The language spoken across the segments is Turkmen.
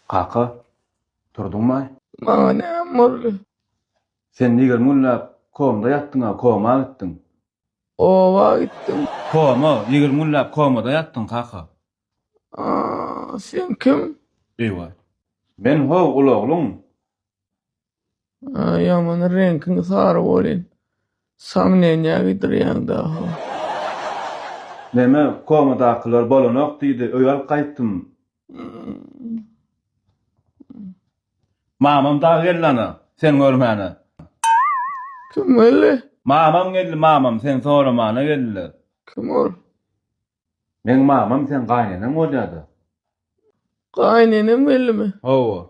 Kaka, turduňmaý? Maňa näme boldy? Sen nigirmi günläp komda ýatdyň-a, koma gitdiň. Oba gitdim. Koma? Nigirmi günläp komada ýatdyň, kaka? Aa, sen kim? Eý-waý. Men, ho, ulaglyň. Ýaman reňkiň sary bolýan. Saňňenýä gidirýäň daha. Näme komadakylar bolanok diýdi öý alyp gaýtdym. Mamam dagy geldi ana sen görmäne. Kim geldi? Mamam geldi mamam sen soramana geldiler. Kim ol? Meň mamam sen gaýneneň bolýada. Gaýnenem geldimi? Hawa.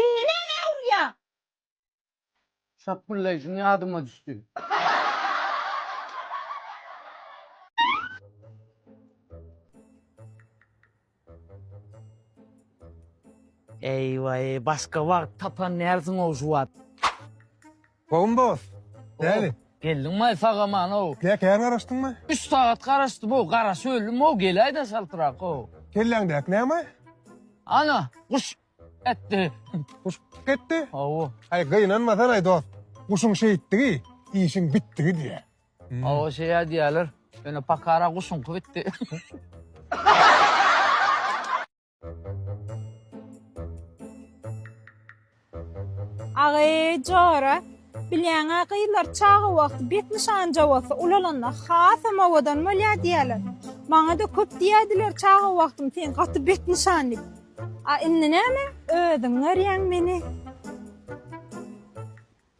Indi nämä urýaň? Şapbyldaýşym ýadyma düşdi. Eý-weý, başga wagt tapanýarsyň-ow şu wagt. Gowumy dost? Näli? Geldiňmaý sag-aman-ow. Tä kän garaşdyňmy? Üç sagat garaşdym-ow, garaşyp öldüm-ow, geläý-de çaltrak-ow. Kelläňdäki näme? Ana, guş etdi. Guş etdi? Hawa. Aý, gynanmasan-aý dost. Guşuň şeýtdigi, işiň bitdigi diýýär. Hawa, şeýä diýýärler. Ýöne pakara guşuňky bitdi. Agy, jora, bilýäň-ä, gyzlar çaga wagty bet nyşan jowasy ulalanda hasam owadan bolýar diýýärler. Maňa-da köp diýýärdiler çaga wagtym sen gaty bet nyşan diýip. A indi näme, özüň görýäň meni.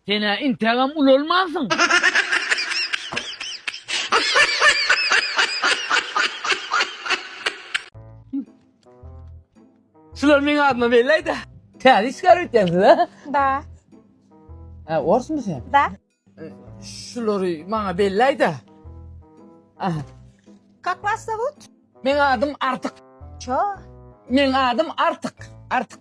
Sen-ä intägem ulalmansyň. Şular meň adyma belläýdä. Täze işgär öýtýänsiz-ä? Da. Hä, orsmy sen? Da. Şulary maňa belläýdä. Aha. Kak was zowut? Meň adym Artyk. Ço. Meň adym Artyk. Artyk.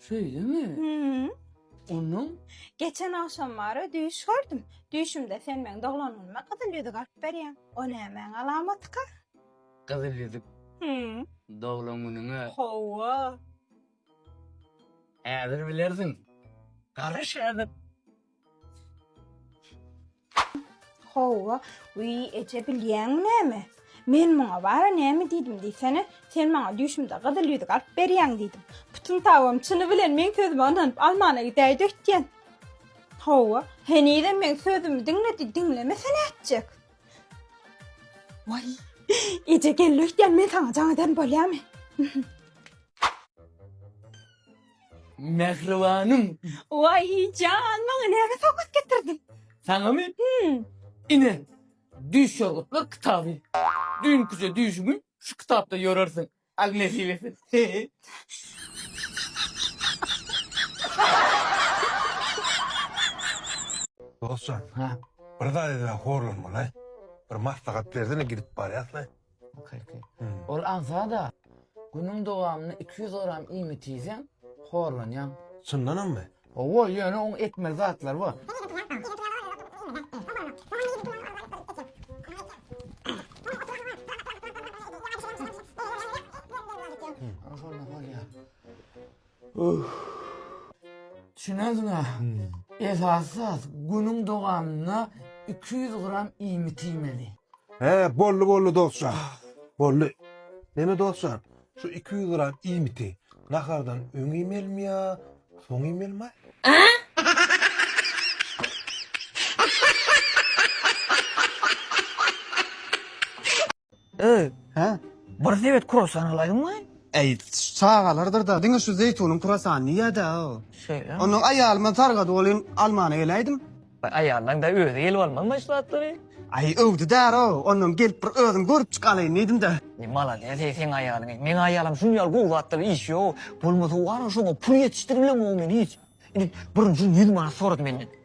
Şeýlemi? Hü-ü. Onnoň? Geçen agşam bara düýş gördüm. Düýşümde sen meň doglanyma gyzyl ýüzük alyp berýäň. O nämäň alamatyka? Gyzyl ýüzük? Hü-ü. Doglan günüňe? Hawa. Häzir bilersiň. Garaş häzir. Hawa, wiý, eje, bilýäňmi näme? Men muňa bara näme diýdim diýsene? Sen maňa düýşümde gyzyl ýüzük alyp berýäň diýdim. Pytyn tabam çyny bilen meň sözüme ynanyp almana gidäýdi öýtýän. Hawa, henizem meň sözümi diňle diý, diňlemese nätjek? Waý, eje geldi öýtýän, men saňa jaň eden bolýamy? Mähribanym. Waý, jan, maňa näme sowgat getirdiň? Saňamy? Hum. Ine, düýş ýorgutlar kitaby. Düýnküje düýşüňi şu kitapda ýorarsyň. Al nesip etsin. Dostjan, bir zat edene horlanma-laý. Bir maslahat berdine gidip barýas-laý. Kyrky. Ol agza-da, günüň dowamynda iki ýüz gram iýmit iýseň, horlanýaň. Çyndanammy? Hawa, ýöne oň etmeli zatlary bar. Düşüneňsiňä, esasy zat, günüň dowamynda iki ýüz gram iýmit iýmeli. Hä, boldy, boldy dostjan, boldy. Neme dostjan, şu iki ýüz gram iýmiti nahardan öň iýmelimi ýa soň iýmelimi-aý? Öý, Hä? bir sebet kruassan alaýdyňmy? Äý, çagalardyr-da, diňe şu zeýtunyň kruassanyny iýer-dä-ow. Şeýlemi? Onda aýalyma sargadyp olayyn, almana geläýdim. Aýalynyň-da özi gelip almazmy şu zatlary? Äý, öwdi därow, onam gelip bir özüm görüp çyk alaýyn diýdim-dä. Äý, malades, eý, seň aýalyň, eý, meň aýalym şuny ýaly gowy zatlary iýişýow, bolmasa wara şoňa pul ýetişdiriblemok men hiç. Indi birinjiden ýüz manat sorady menden.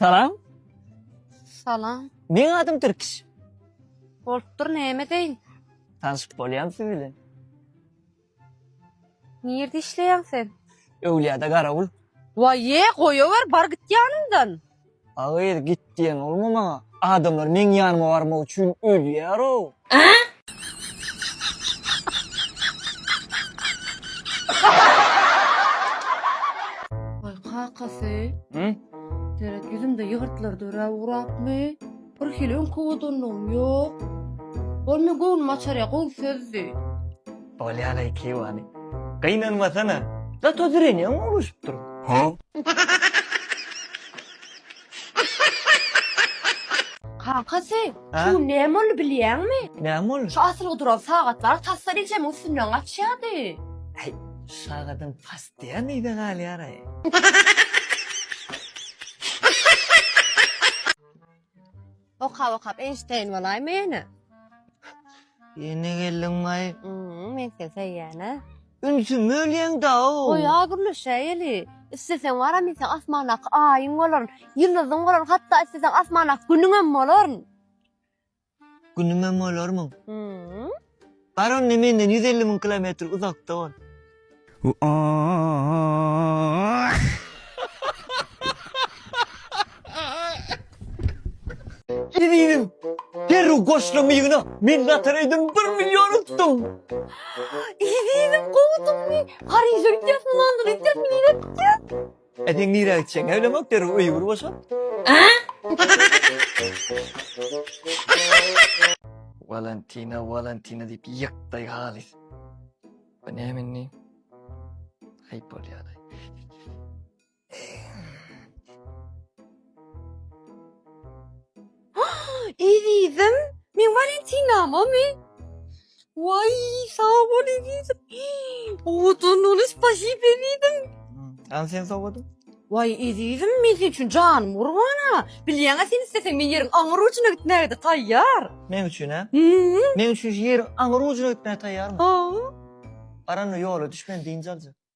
Salam. Salam. Meň adym Türkiş. Bolupdyr, näme deýin? Tanşyp bolýam siz bilen. Nirde işleýäň sen? Öwlüýada garawul. Waýýe, goýawer, bar git ýanymdan. A gyz git diýen bolma maňa. Adamlar meň ýanyma barmak üçin ölýär-ow. Waý kakasy. Seret ýüzüňde ýygyrtlar dörä ugrapmy? Bir hili öňki odanlygym ýok. Ol meň göwnümi açar ýa gowy sözdi. Bolýa-laý Kewani. Gynanmasana. Zato zrenýaň gowlaşyp dur. Kakasy, şu gün näme boldy bilýäňmi? Näme boldy? Şu asylgy duran sagatlar tas-da rejemiň üstünden gaçýardy. Äý, şu sagadyň pastyýa nirede galýar-aý? Okap okap Eýnşteýn bolaýma ýene. Ýene geldiň maý. Hmm, men seni söýýän-ä. Ünsümi bölýäň-da-ow. Goýa gürleşäýeli. Isleseň baram ýeten asmandaky aýyň bolaryn, ýyldyzyň bolaryn, hatda isleseň asmandaky günüňem bolaryn. Günümem bolarmyň. Bar onda menden ýüz elli müň kilometr uzakda bol. Eziziň, derrew goşla mygyna, men lotoreýden bir million utdum. Eziziň, gowy utupmy? Pariže gidýäsmi, Londona gidýäsmi, nirä gidýäs? Ä seň nirä gitjeň älemok derrew öýi bir boşat. Walantina walantina diýip ýykdaý halys. Bu näme indi? Aýp bolýar. Ezizim, meň Walentinamamy? Waý, sag bol ezizim. Owadan bol, spasib ezizim. Hany sen sowgadyň? Waý, ezizim, men sen üçin janym gurban-a. Bilýäň-ä, sen isleseň men ýeriň aňyr ujuna gitmäge-de taýýar. Meň üçin-ä? Hü-ü. Meň üçin şu ýeriň aňyr ujuna gitmäge taýýarmy? Hü-ü. Baran ýola düş meni dynç aljak.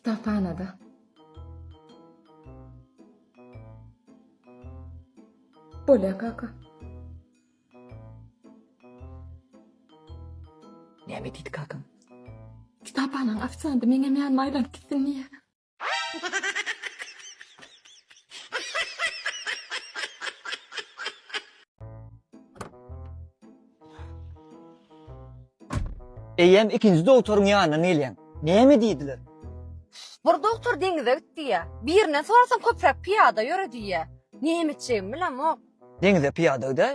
Kitaphanada. Bolýa kaka. Näme diýdi kakam? Kitaphananyň ofisianty meňem ýanyma aýlanyp gitsin diýýä. Eýýäm ikinji dogtoryň ýanyna gelýän. Näme diýdiler? Bir dogtor deňize git diýýä. Birinden sorasaň köpräk pyýada ýöre diýýä. Näme etjegimi bilemok. Deňize pyýada gidäý.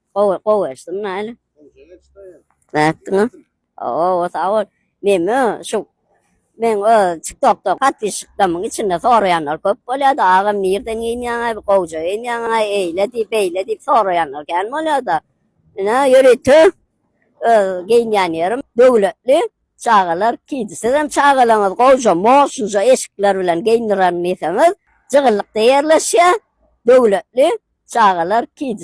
Gowy, gowy eşdim näli. Nätdiňa? Oo, sag bol. Meme şu men o TikTokda podpisçikdamyň içinde soraýanlar köp bolýar-da, agam nirden geýinýäňä, gowja geýinýäňä, eýle diýip, beýle diýip soraýanlar kän bolýar-da. Ine, ýörite öz geýinýän ýerim döwletli. Çagalar kiydi. Sizem çagalaryňyzy gowja, mosunja eşikler bilen geýindirerin diýseňiz, Jygylykda ýerleşýär, döwletli çagalar kiydi.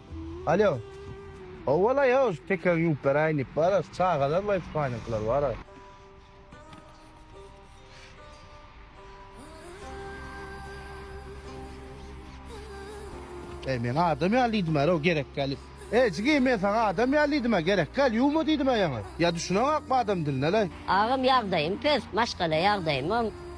Alýo. Howwala ýa şu pekegiň ýüpleri aýnyp bara şu çagalar we ispanyňkylar bara. Eý men adam ýaly diýdim-ä row gerek gelip. Eý jigim men saňa adam ýaly diýdim-ä gerek gel ýuwma diýdim-ä ýaňy. Ýa düşüneňakmy adam diline leý. Agam ýagdaýym pes, maşgala ýagdaýymam.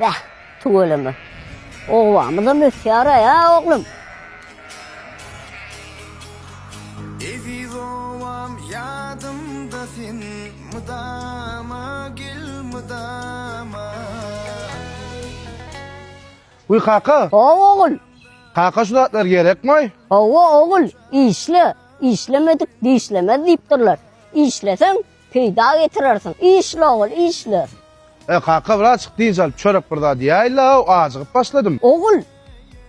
Bäh, tüweleme. Obamyzam ösýär-ä, ä oglum! Eziz obam ýadymda sen mydama gel mydama. Wiý kaka! Hawa ogul! Kaka şu zatlar gerekmaý? Hawa ogul, işle, işlemedik dişlemez diýipdirler. Işleseň, Peýda getirersiň. Işle ogul, işle. E, kaka, birazjyk dynç alyp, çörek bir zat iýäýli-law, ajygyp başladym. Ogul,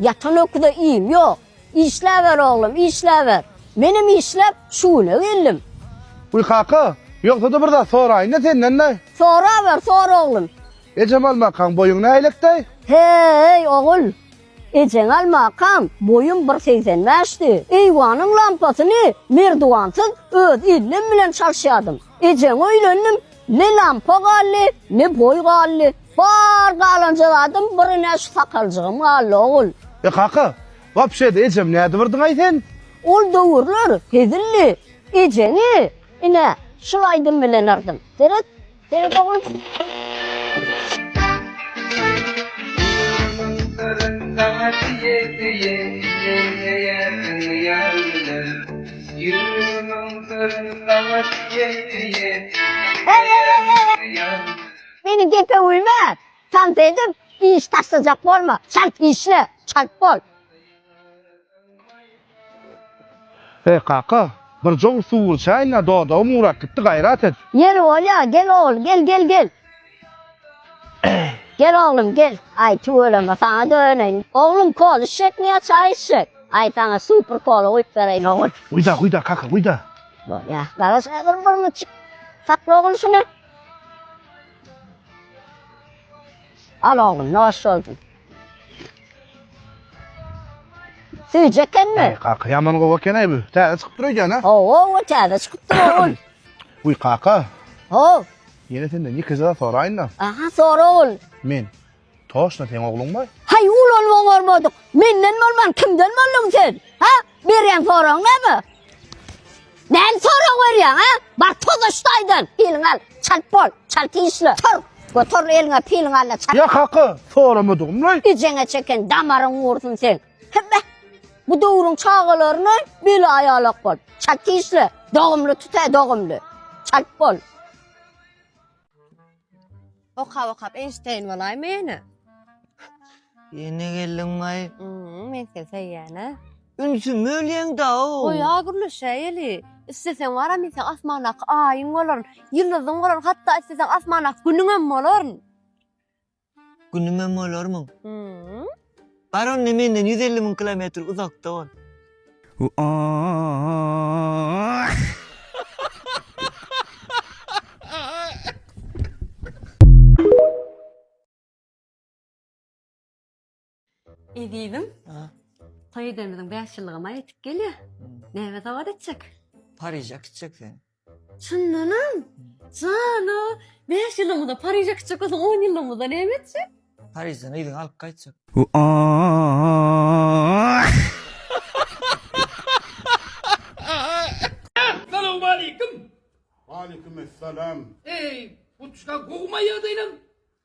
ýatan öküze iým ýok. Işläber, oglum, işläber. Menem işläp, şu güne geldim. Wiý, kaka, ýogsa-da bir zat soraýyn-da senden-de. Soraber, sora, oglum. Ejemal makaň boýuň nähilek-däý? He-eý, ogul! Ejeň almakam boýum bir segsen bäşdi. Eýwanyň lampasyny merdiwansyz öz ellim bilen çalyşýardym. Ejeň öýlendim, ne lampa galdy, ne boý galdy. Bar galanja zadym birine şu sakaljygym galdy, ogul. E, kaka, wapşe-de ejem nädibirdiň-aý sen? Ol döwürler hezildi. Ejeňi, ine, şul aýdym bilen yrdym. Seret! Meni gepe güýme! Çalt edip, iş taşlajak bolma! Çalt işle! Çalt bol! He, kaka, bir jow suw içäýin-ä, dodagym gurap gitdi, gaýrat et! Ýeri bolýa, gel ogul, gel, gel, gel! Gel oglum, gel! Aý, tüweleme, saňa döneýin. Oglum, kola içjekmi ýa çaý içjek? Aý, saňa super kola guýup bereýin, ogul. Guýda, guýda, kaka, guýda! Bolýa, garaş häzir bir müçük. Sakla, ogul, şuny. Al, oglum, noş bolsun! Süýji ekenmi? Eý, kaka, ýaman gowy eken-eý bu. Täze çykyp dur öýdýän, a? Hawa, täze çykyp dur ogul. Uý, kaka. Haw. Ýene senden ýeke zat soraýyn-da. Aha, sora ogul. Men toşna seň ogluňmy? Haý, ulanmaň bolmadyk. Menden bolman kimden bolduň sen? Ha? Berýän soragyň näme? Näme sorag berýäň, ha? Bar tozaşda aýdan, piliň al, çalt bol, çalt işle. Tur, göter eliňe piliň al çalt. Ýa haky soramadygym laý. Ijeňe çeken damaryň gursun seň. Hebe. Bu döwrüň çagalaryna bile aýalak bol. Çalt işle. Dogumly tut, dogumly. Çalt bol. Okap okap Eýnşteýn bolaýma ýene. Ýene geldiňmaý. Mmm, men seni söýýän-ä. Ünsümi bölýäň-da-ow. Goý-a gürleşäýeli. Isleseň baram men seň asmandaky aýyň bolaryn, ýyldyzyň bolaryn, hatda isleseň asmandaky günüňem bolaryn. Günümem bolarmyň? Mmm. Bar onda menden ýüz elli müň kilometr uzakda bol. Ezizim, toý edemiziň bäş ýyllygy maý ýetip gelýär. Näme sowgat etjek? Pariže gitjek sen. Çyndanam? Jana, bäş ýylymyza Pariže gitjek bolsaň, on ýylymyza näme etjek? Parižden yzyňy alyp gaýtjak. Salowmaleýkim! Waleýkim essalam. Eý, buçka gowmaýa-da inem.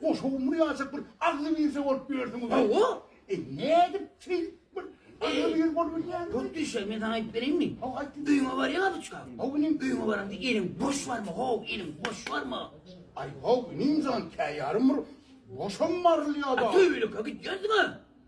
Goşa umur ýaşap bir agzy birse bolup ýörsüňiz. Hawa. E nädip şeýdip bir agzy bir bolup bilýäňiz? Hut düşe men saňa aýdyp bereýinmi? Hawa aýt. Öýüňe bar ýa buçka. Hawa inim. Öýüňe baranda eliň boş barmy? Haw, eliň boş barmy? Aý haw inim jan käýarym bir boşam barylýada. Töweleke gitýärsiňä.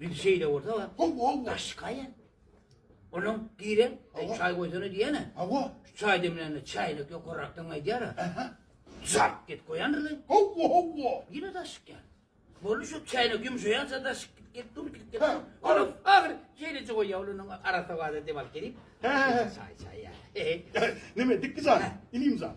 Indi şeýle bolsa wa. Hawa, hawa. Daşka ýa. Onuň giren, e, çaý goýsana diýene. Hawa. Çaý demlände çaýlyk ýokarrakdan gaýdýar. Aha. Zap git goýandyr. Hawa, hawa. Ýene daşyk ýa. Boldy şu çaýlyk ýumşaýança daşyk git git dur git git. Ol agyr şeýleje goýýar onuň arasy wada dem alyp gelip. Çaý çaý ýa. Näme dikdi zat? Inim zat.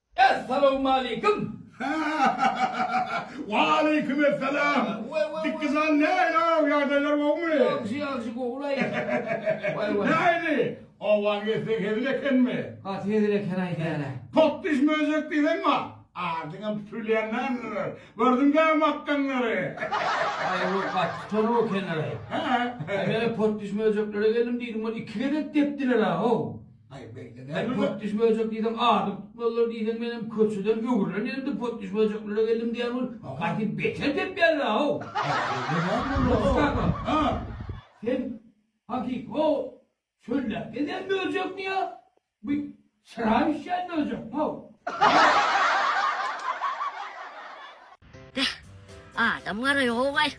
Essalawmaleýkim! Waleýkim essalam! Dikizan näýaw, ýagdaýlar gowumy? Ýagşy, ýagşy, gowulaý. Waý, waý. Nähili? Owaň etse hezil ekenmi? Gaty hezil eken aýdýan-a. Potdyş möjek diýseň bar. Adyňam tutulýandandyr. Gördüň däl makganlary. Aý, ol gaty tutan-ow ekenler-aý. Hä? Aý, men-ä potdyş möjeklere geldim diýdim, ol iki gezek depdiler-ä, how! Häzir potdüş böljek diýseň azyk tutmalydyr diýseň menem köçeden öwrülen ýerimde potdüş böljeklere geldim diýýän bolup gaty beter depýärler how. Potdüş kaka. Sen hakyky how çölläp gezýän böljekmi ýa bu çyra bişýän böljekmi how. Beh, adam garaýogaý.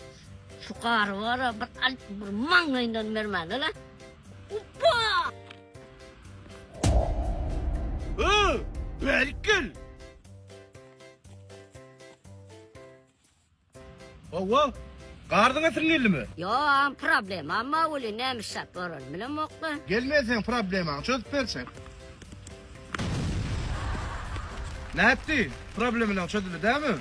Şu gary bara bir alyp bir maňlaýyndan bermäne-le. Uppa! Ho, bärik gel! Hawa, garzyň ätiň geldimi? Ýoam, problemam bar weli nämişjak bolan bilemok-la. Gelmeseň problemaňy çözüp berjek. Nätdi? Problemalaň çözüldi dämi?